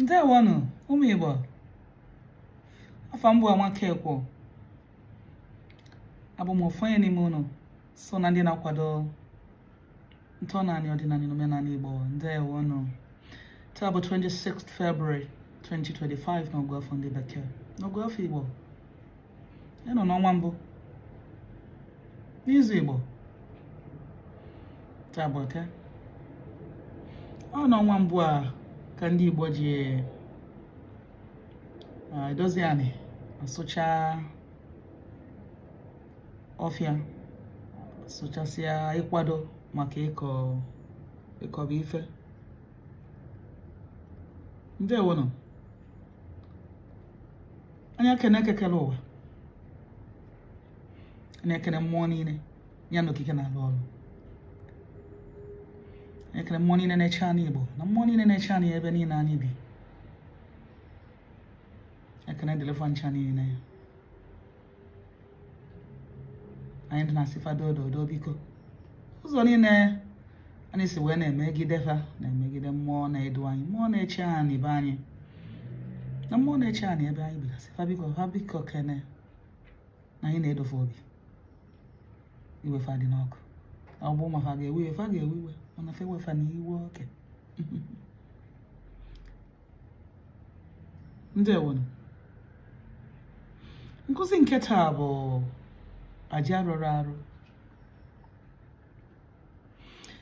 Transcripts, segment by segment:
ndewonụ ụmụ Igbo afa m bụ Amaka Ekwo abụ m ofu onye n'ime ụnụ so na ndị na-akwado ntọnaanị ọdịnanị na omenanị Igbo ndewonụ taa bụ 26 February 2025 n'ọgụ afọ ndị bekee n'ọgụ afọ Igbo a nọ n'ọnwa mbụ n'izu Igbo taa bụ eke ọ n'ọnwa mbụ a ka ndị Igbo ji edozi anị asụcha ọfịa a sụchasịa ịkwado maka ịkọba ife ndewonụ anyị ekene Eke kelụ ụwa anyị ekene mmụọ niine ya na okike na-alụ ọlụ anyị ekene mmụọ niine na-eche anị Igbo na mmụọ niine na-eche anị ebe niine anyị bi ekene dịlị fa ncha niine anyị dị na-asị fa dodo biko ụzọ niine anyị si wee na-emegide fa na-emegide mmụọ na-edu anyị mmụọ na-eche anị be anyị na mmụọ na-eche anị ebe anyị bigasị fa biko fa biko kene na anyị na-edo fa obi iwe fa dị n'ọkụ ọ bụ ma fa ga-ewe iwe fa ga-ewe iwe mana fa ewefena iwe oke ndewonu nkụzi nke taa bụ aja rụrụ arụ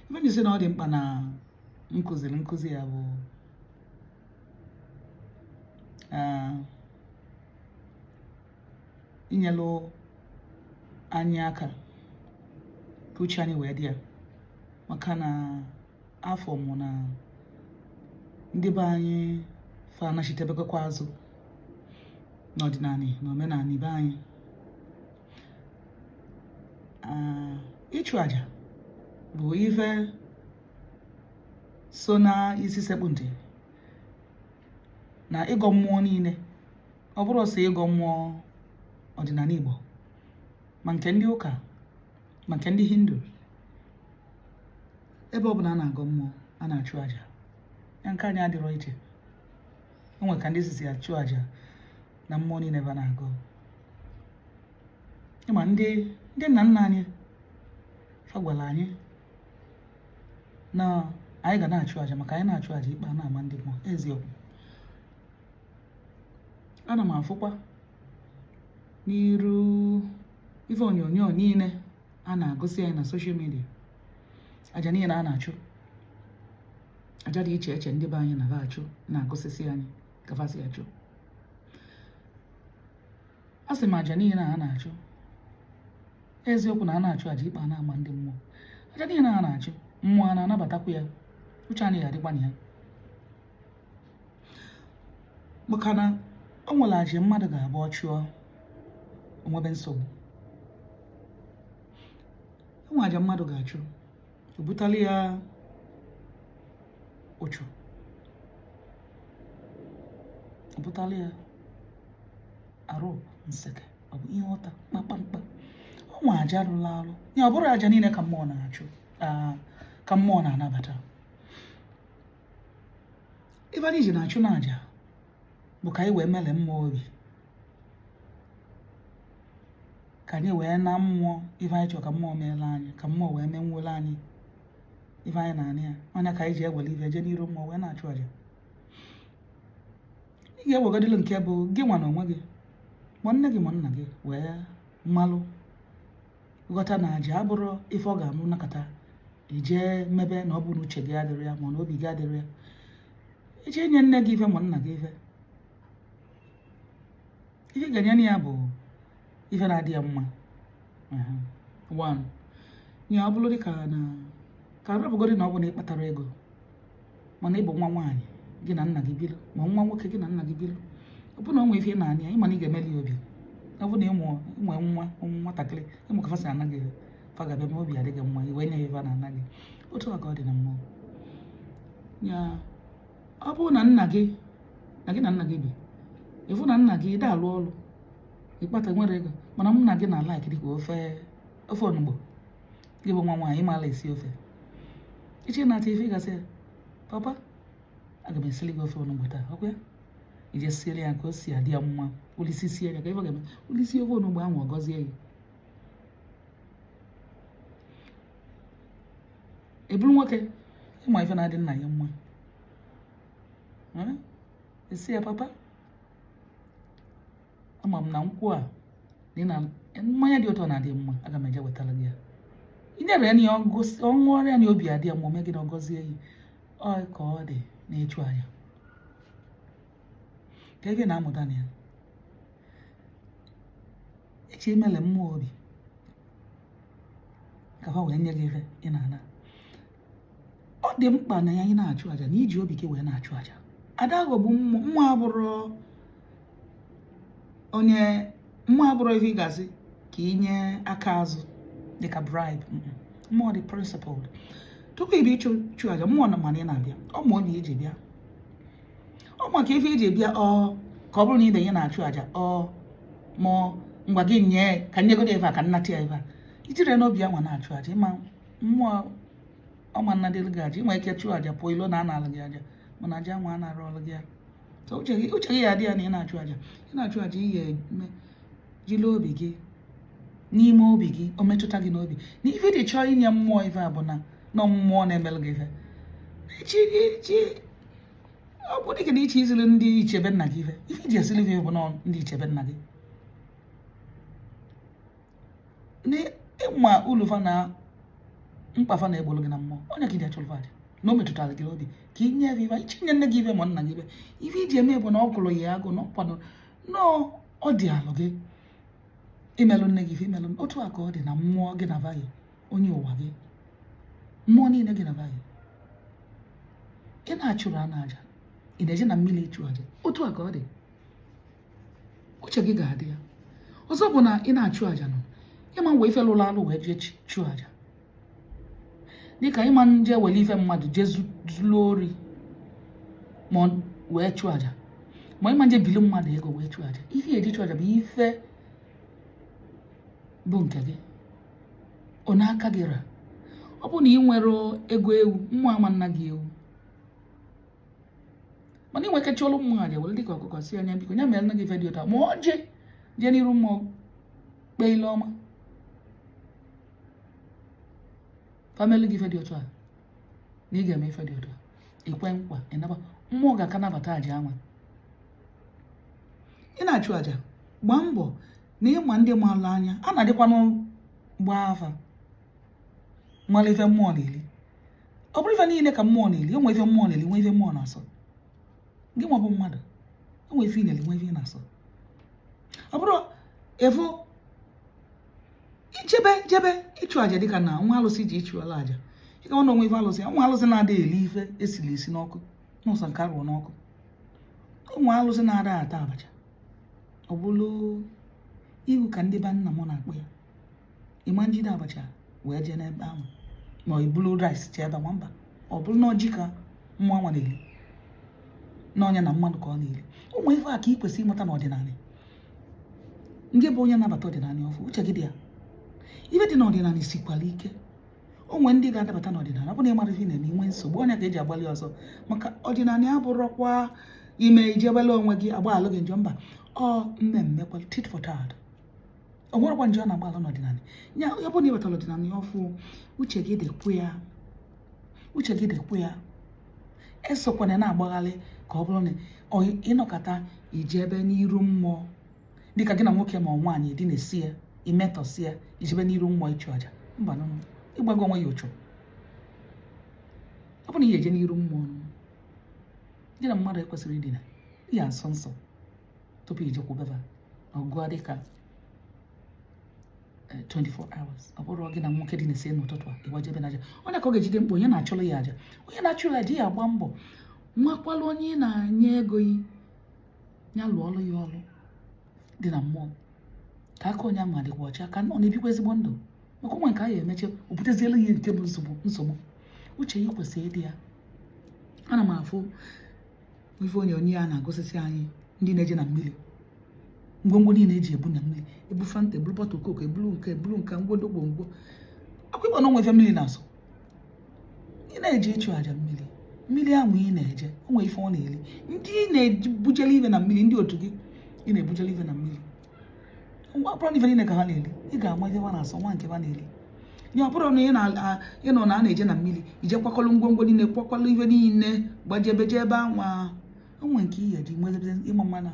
ife m ji sị na ọ dị mkpa na m kụziri nkụzi a bụ ah, inyelụ anyị aka ka uche anyị wee dị ya maka na afụ m na ndị be anyị fa anachitebekwa azụ n'ọdịnanị na omenanị be anyị ah, ịchụ aja bụ ife so na isi sekpụ ntị na ịgọ mmụọ niine ọ bụrọ sọ ịgọ mmụọ ọdịnanị Igbo ma nke ndị ụka ma nke ndị Hindu ebe ọ bụla a na-agọ mmụọ a na-achụ aja ya nke anyị adịrọ iche o nwere ka ndị sisi achụ aja na mmụọ niine ebe a na-agọ ị ma ndị nna nna anyị fa gwalụ anyị na anyị ga na-achụ aja maka anyị na-achụ aja ikpe a na-ama ndị mmụọ eziokwu ana m afụkwa n'iru ife onyonyo niile a na-agosi anyị na soshal midia aja niile a na-achụ aja dị iche iche ndị be anyị na-achụ na-agosisi anyị ka fa si achụ a sị m aja niile a na-achụ eziokwu na a na-achụ aja ikpe a na-ama ndị mmụọ aja niile a na-achụ mmụọ a na-anabatakwu ya uche anyị ga-adịkwa na ya maka na o nwere aja mmadụ ga-abụ ọ chụọ o nwebe nsogbu o nwere aja mmadụ ga-achụ o butala ya ụchụ o butala ya arụ nseke ọ bụ ihe ọta kpakpamkpa o nwe aja rụrụ arụ ya ọ bụrọ aja niile ka mmụọ na-achụ ka mmụọ na-anabata ife anyị ji na-achụ n'aja bụ ka anyị wee melie mmụọ obi ka anyị wee na mmụọ ife anyị chọrọ ka mmụọ meelụ anyị ka mmụọ wee menwuolụ anyị ife anyị na-ana ya ọ nya ka anyị ji ewere ife jee n'iru mmụọ wee na-achụ aja ị ga-ewegodịlụ nke bụ gị nwa na onwe gị ma nne gị ma nna gị wee malụ ghọta na aja abụrọ ife ọ ga-abụ nọkata i jee mebe na ọ bụ na uche gị adịrọ ya ma na obi gị adịrọ ya i je nye nne gị ife ma nna gị ife ihe ị ga-enyenụ ya bụ ife na-adị ya mma one ya ọ bụrụ dịka na ka a rapụgodi na ọ bụ na ị kpatara ego mana ị bụ nwa nwaanyị gị na nna gị biri ma nwa nwoke gị na nna gị biri ọ bụrụ na o nwee ife ị na-ana ya ị ma na ị ga-emeli ya obi ọ bụrụ na ị mụ nwee nwa nwatakịrị ị mụ ka fa si ana gị fa ga-abịa ma obi adị gị mma i wee nye ya ife na-ana gị otu a ka ọ dị na mmụọ ya ọ bụrụ na nna gị na gị na nna gị bi ị fụ na nna gị ị da-alụ ọrụ ị kpatanwurọ ego mana nna gị na-alaik dịka ofe ofe onugbu gị bụ nwa nwaanyị ị malụ esi ofe ị chọọ ịnata ife ị ga-asị ya papa aga m esili gị ofe onugbu taa ọ kwa ya i je siere ya ka o si adị ya mma o lisisie ya ka ife ga-eme o lisie ofe onugbu ahụ ọ gọzie ya ị bụrụ nwoke ị ma ife na-adị nna ya mma ị sị ya papa ama m na nkwụ a dị na mmanya dị ụtọ na-adị mma aga m eje wetara gị ya i nyere ya na ya ọ ṅụrịa na obi adị ya mma o mee gịnị ọ gọzie gị ọ ka ọ dị n'ịchụ aja ka ị na-amụta na ya e ji emeli mmụọ obi ka ha wee nye gị ihe ị na-ana ọ dị mkpa na ya ị na-achụ aja na iji obi gị wee na-achụ aja ada aghọgbu mmụọ mmụọ abụrọ onye mmụọ abụrọ ife ị ga-asị ka inye aka azụ dịka bribe mmụọ dị principled tupu ị bịa ịchụ aja mmụọ ma na ị na-abịa ọ ma onye iji bịa ọ ma ka ife iji bịa ọ ka ọ bụrụ na ị bịa na-achụ aja ọ mụọ ngwa gị nye ka nyegodo ebe a ka nnata ya ebe a ijiri n'obi anwa na-achụ aja ịma mmụọ ọ ma nnadịrị gị aja inwe ike chụọ aja pụọ ilo na analụ gị aja mana aja nwa a na-arụ ọrụ gị ya uche gị ya adị ya na ị na-achụ aja ị na-achụ aja ị ga-eme jiri obi gị n'ime obi gị o metụta gị n'obi na ife ị chọọ inye mmụọ ife a bụ na nọ mmụọ na-emere gị ife eche gị nche ọ bụ dịka na ịchọ isiri ndị ichie be nna gị ife ife iji esiri ife bụ na ndị ichie be nna gị na ịma ulu fa na mkpa fa na-egbolu gị na mmụọ ọ nya ka iji achụlụ fa aja na o metụtara gị obi ka ị nye ife ịchọ inye nne gị ife ma nna gị ife ife iji eme bụ na ọ gụrụ ya agụ na ọ kwado na ọ dịalụ gị imelụ nne gị ife imelụ otu a ka ọ dị na mmụọ gị na va yi onye ụwa gị mmụọ niile gị na va yi ị na-achụrụ ana aja ị na-eje na mmiri ịchụ aja otu a ka ọ dị uche gị ga-adị ya ọzọ bụ na ị na-achụ aja nọ ịma wee ife lụrụ alụ wee jee chụọ aja dịka ịma nje were ife mmadụ jee zuru ori ma wee chụọ aja ma ịma nje bili mmadụ ego wee chụọ aja ife eji chụọ aja bụ ife bụ nke gị ọ n'aka gị ra ọ bụ na ị nwerọ ego ewu mmụọ ama nna gị ewu mana inwe ike chụọlụ mmụọ aja were dịka ọkụkọ sị nya biko nya mere nna gị ife dị otu a ma ọ gị jee n'iru mmụọ kpee ile ọ ma fa melụ gị ife dị otu a na ị ga-eme ife dị otu a ikwe nkwa ịnaba mmụọ ga-aka nabata aja anwa ị na-achụ aja gbaa mbọ na ịma ndị maalụ anya a na-adịkwanụ gbaa afa mara ife mmụọ na-eli ọ bụrọ ife niile ka mmụọ na-eli enwe ife mmụọ na-eli nwe ife mmụọ na-asọ gị nwa bụ mmadụ enwe ife ị na-eli nwe ife ị na-asọ ọ bụrọ ị fụ ijebe jebe ịchụ aja dịka na nwe alụsị ị je ịchụlụ aja ịka nwa na onwe ife alụsị nwe alụsị na-ada eli ife esiri esi n'ọkụ na ọ sọ nke arụrụ n'ọkụ onwe alụsị na-ada ata abacha ọ bụrụ iwu ka ndị be nna m na-akpọ ya ị ma-ejide abacha wee jee n'ebe ahụ ma i bulu rice jee ebe anwa mba ọ bụrụ na ọjị ka mmụọ nwa na-eli n'ọnya na mmadụ ka ọ na-eli ụmụ ife a ka ị kwesịrị ịmata n'ọdịnala ndị bụ onye na-abata ọdịnala ọfụ uche gị dị ya ife dị n'ọdịnala sikwara ike o nwe ndị ga-adabata n'ọdịnala ọ bụ na ị marọ ife na-eme i nwee nsogbu ọ ya ka e ji agbalụ ọsọ maka ọdịnala ya bụrụkwa ime ijebele onwe gị agbalụ gị njọ mba ọ mee m mekwa tit for tat o nwerekwa ndị ọ na-agbalụ n'ọdịnala ya ọ bụrụ na ị batara ọdịnala ọfụ uche gị dịkwa ya uche gị dịkwa ya esokwana na-agbagharị ka ọ bụrụ na ị nọkata i jebe n'iru mmụọ dịka gị na nwoke ma nwaanyị dinasịa i metọsịa i jebe n'iru mmụọ ịchụ aja mbanụ ị gbago onwe gị uchu ọ bụ na ị ya-eje n'iru mmụọ gị na mmadụ ekwesịrọ idina ya nso nso tupu i jekwube ha ọ ga-adị ka 24 eh, hours ọ bụrọ gị na nwoke dinasịa n'ụtụtụ a ị gbajebe n'aja onye ka ọ ga-ejide mkpa onye na-achụrụ ya aja onye na-achụrụ aja ya agba mbọ makwala onye ị na-enye ego gị ya lụọ ọrụ ya ọrụ dị na mmụọ ka aka onye ahụ adịkwa ọcha ka ọ na-ebikwa ezigbo ndụ maka o nwe nke a ya-emecha o butezielụ gị nke bụ nsogbu nsogbu uche gị kwesịrị ịdị ya ana m afụ ife onyonyo a na-agosisi anyị ndị na-eje na mmiri ngwongwo niile e ji ebu na mmiri ebu fanta eburu bottle coke eburu nke eburu nke ngwodo ngwongwo akwakọba na o nwe ife mmiri na-asọ ị na-eje ịchụ aja mmiri mmiri ahụ ị na-eje o nwe ife ọ na-eli ndị ị na-ebujele ife na mmiri ndị otu gị ị na-ebujele ife na mmiri ọ bụrọ na ife niile ka ha na-eli ị ga-ama ife ha na-asọ ma nke ha na-eli nye ọ bụrụ na ị nụ na a na-eje na mmiri i jee kwakọrọ ngwongwo niile kwakọrọ ife niile gbajebe jee ebe anwa o nwe nke ị ya-eji nwezebe ịma mma na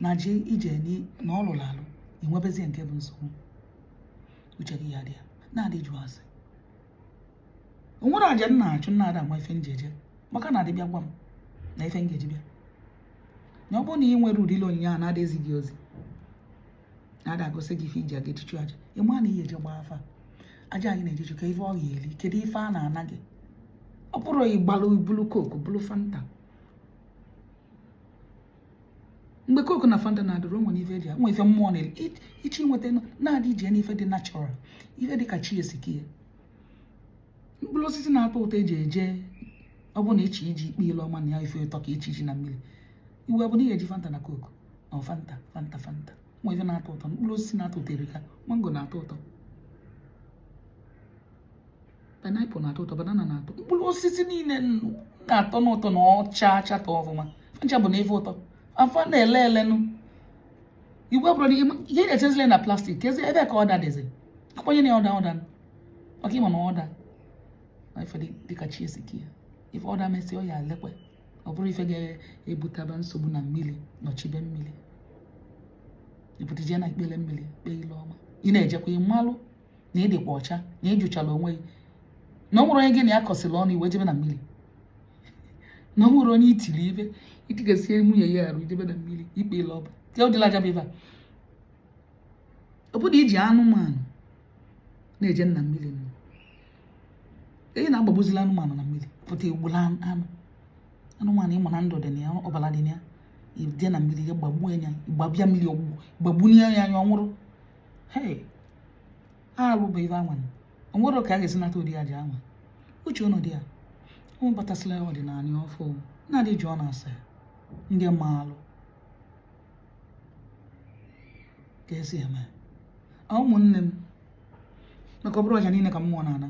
na je ije na ọ lụrụ alụ enwebezie nke bụ nsogbu uche gị ya-adị ya na-adị ajụ ase o nwere aja m na-achụ m na-ada ama ife m ji eje maka na a dị abịa gwa m na ife m ga-eji bịa na ọ bụrụ na ị nwere ụdịlị onyinye a na-ada ezi gị ozi na-ada agosi gị ife i ji aga eje ịchụ aja ị ma na ị ya-eje gbaa afa aja ị na-eje ịchụ ka ife ọ ga-eli kedu ife a na-ana gị ọ bụrọ ịgbalụ bulu coke bulu fanta mgbe coke na fanta na-adịrọ o nwere ife e ji nwe ife mmụọ na-echi nweta na-adị ije n'ife dị natural ife dị ka chi si kee mkpụrụ osisi na-atọ ụtọ e ji eje ọ bụ na e ji eje ikpe ile ọma na ya ife ụtọ ka e ji eje na mmiri i wee bụ na ị ya-eji fanta na coke na fanta fanta fanta nwa ife na-atọ ụtọ mkpụrụ osisi na-atọ ụtọ dịka mango na-atọ ụtọ pineapple na-atọ ụtọ banana na-atọ mkpụrụ osisi niile na-atọ n'ụtọ na ọcha achatọ ọfụma ncha bụ na ife ụtọ afọ na-ele elenụ igwe bụrụ ihe na-echezile na plastic kezi ebe ka ọda dịzi akwanye na ọda ọda maka ịma na ọda na ife dịka chi esi ka ya ife ọda mesị ọ ya lekwe ọ bụrụ ife ga-ebutaba nsogbu na mmiri nọchibe mmiri ibutije na ikpele mmiri kpee ile ọma ị na-ejekwa ị malụ na ị dịkwa ọcha na ị jụchara onwe gị na ọ nwere onye gị na ya kọsịrị ọnụ i wee jebe na mmiri na ọ nwere onye i tiri ive i tigasịe nwunye ya arụ i jebe na mmiri ikpe ile ọba ya ụdịla aja bụ ive a ọ bụrụ iji anụmanụ na-eje na mmiri nọ eyi na-agbagbuzila anụmanụ na mmiri pụta egbula anụ anụmanụ ị ma na ndụ dị na ya ọbara dị na ya ije na mmiri ya gbagbuo ya gbabịa mmiri ọgbụgbụ gbagbunye ya anya ọ nwụrụ hei arụ bụ ive anwa o nwere ka a ga-esi nata ụdị aja anwa uche ụnụ dị ya ụmụ batasịla ọdịnanị ọfụ na-adị jụọnụ ase ndị maalụ ka esi eme ụmụnne m maka ọ bụrọ aja niile ka mmụọ na-ana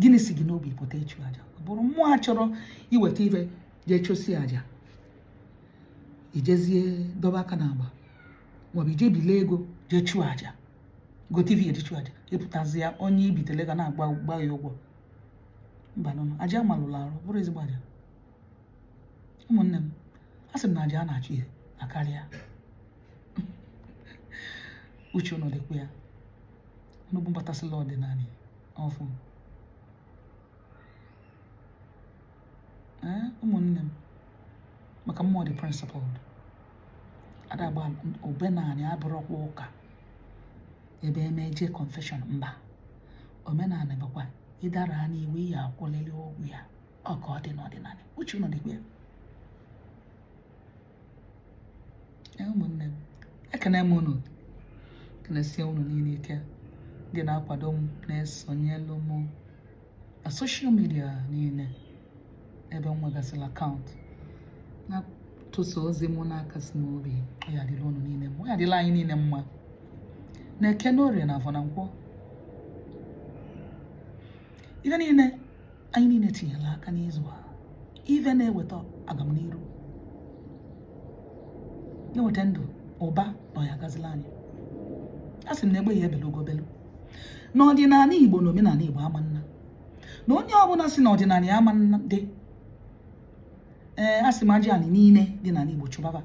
gịnị si gị n'obi pụta ịchụ aja ọ bụrụ ma a chọrọ iweta ive jee chụsịa aja i jezie dọba aka na agba maọbụ ije bile ego jee chụọ aja gote ive eji chụọ aja ị pụtazia onye i bitele ego na-agba ya ụgwọ mba nụnụ aja melụrụ arụ abụrọ ezigbo aja ụmụnne m a sị m na aja a na-achụ ya akarịa uche ụnụ dịkwa ya unu bụ mbatasịla ọdịnanị ọfụ ee ụmụnne m maka mmụọ dị principled adagba omenanị abụrọkwa ụka ebe e mee jee confession mba omenanị bụkwa ị dara n'iwu ị ya-akwụlili ụgwọ ya ọ ka ọ dị n'ọdịnanị uche ụnụ dịkwa ya ụmụnne m ekene m unu kenesie unu niile ike ndị na-akwado m na-esonyelu m na social media niile ebe m nwegasịrị account na-atụsa ozi mụ na-akasi m obi ọ ya-adịla unu niile mma ọ ya-adịla anyị niile mma n'eke n'orie na avọ na nkwọ ife niile anyị niile tinyela aka n'izu a ive na-eweta agamniru na-eweta ndụ ụba na ọ ya-agazila anyị a sị m na egbe ya ebelu ugo belu n'ọdịnanị igbo na omenanị igbo ama ana na onye ọbụla sị na ọdịnanị ya ama na-adị ee a sị m aja anị niile dị n'ala igbo chụbaba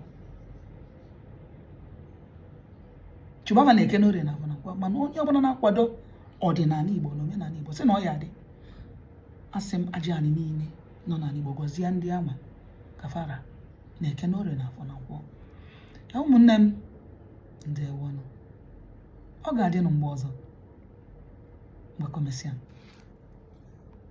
chụbaba n'eke n'orie na avọ na mana onye ọbụla na-akwado ọdịnanị Igbo na omenanị Igbo sị na ọ ya-adị asị m aja anị niine nọ n'anị Igbo gọzie ndị ama kafara na eke n'orie na afọ na nkwọ ya ụmụnne m ndewonụ ọ ga-adịnụ mgbe ọzọ ngwa ka ọ mesịa